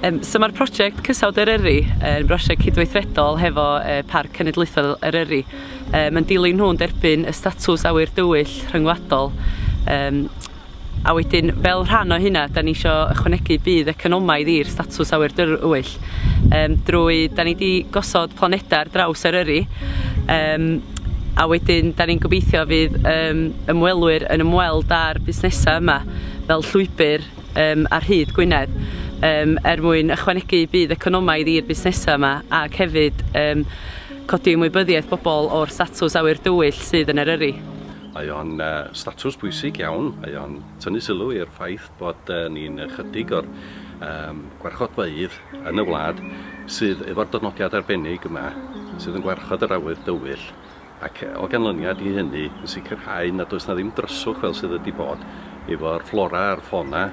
Um, so mae'r prosiect Cysawd Eryri yn brosiect cydweithredol hefo uh, Parc Cenedlaethol Eryri. Uh, mae'n dilyn nhw'n derbyn y statws awyr dywyll rhyngwladol. Um, a wedyn, fel rhan o hynna, da ni eisiau ychwanegu bydd economaidd i'r statws awyr dywyll. Um, drwy, da ni wedi gosod planedau ar draws Eryri. Um, a wedyn da ni'n gobeithio fydd um, ymwelwyr yn ymweld â'r busnesau yma fel llwybr um, ar hyd Gwynedd um, er mwyn ychwanegu bydd economaidd i'r busnesau yma ac hefyd um, codi ymwybyddiaeth bobl o'r statws awyr dywyll sydd yn Eryri. Mae o'n uh, statws bwysig iawn, mae o'n tynnu sylw i'r ffaith bod uh, ni'n ychydig o'r um, gwarchodfeydd yn y wlad sydd efo'r dynodiad arbennig yma, sydd yn gwarchod yr awydd dywyll, ac o ganlyniad i hynny yn sicrhau nad oes na ddim dryswch fel sydd wedi bod efo'r fflora a'r ffona.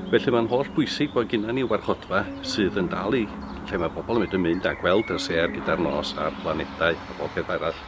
Felly mae'n holl bwysig bod gyda ni warchodfa sydd yn dal i lle mae pobl yn mynd yn mynd a gweld y ser gyda'r nos a'r planedau a bob peth arall.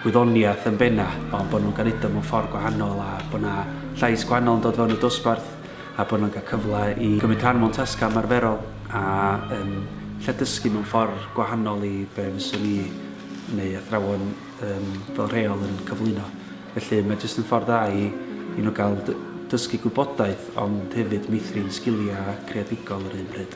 gwyddoniaeth yn benna, ond bod nhw'n cael udo mewn ffordd gwahanol a bod yna llais gwahanol yn dod fewn y dosbarth a bod nhw'n cael cyfle i gymryd rhan mewn tasgau ymarferol a yn lle dysgu mewn ffordd gwahanol i be fyswn i neu athrawon um, fel rheol yn cyflwyno. Felly mae jyst yn ffordd dda i, i nhw gael dysgu gwybodaeth ond hefyd meithrin sgiliau creadigol yr un pryd.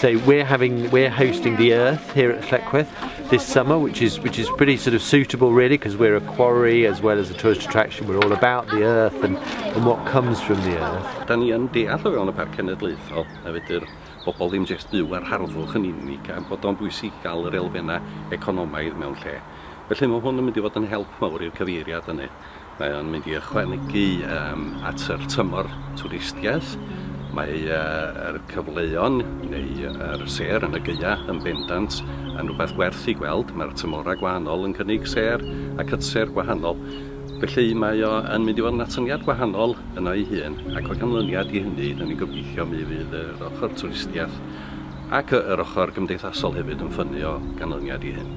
So we're having we're hosting the Earth here at Lletchworth this summer, which is which is pretty sort of suitable really because we're a quarry as well as a tourist attraction. We're all about the Earth and, and what comes from the Earth. Da ni yn deall o fewn y Parc Cenedlaethol a fedr bobl ddim jyst byw ar harddwch yn unig a bod o'n bwysig gael yr elfennau economaidd mewn lle. Felly mae hwn yn mynd i fod yn help mawr i'r cyfeiriad hynny. Mae o'n mynd i ychwanegu yym at yr tymor twristiaeth. Mae yy yr cyfleon neu yr sêr yn y Gaea yn bendant yn rwbeth werth 'i gweld. Mae'r tymhora gwahanol yn cynnig sêr a cytser gwahanol. Felly mae o yn mynd i fod yn atyniad gwahanol yno ei hun ac o ganlyniad i hynny 'dan ni'n gobeithio mi fydd yr ochor twristiaeth ac yy yr ochor gymdeithasol hefyd yn ffynnu o ganlyniad i hyn.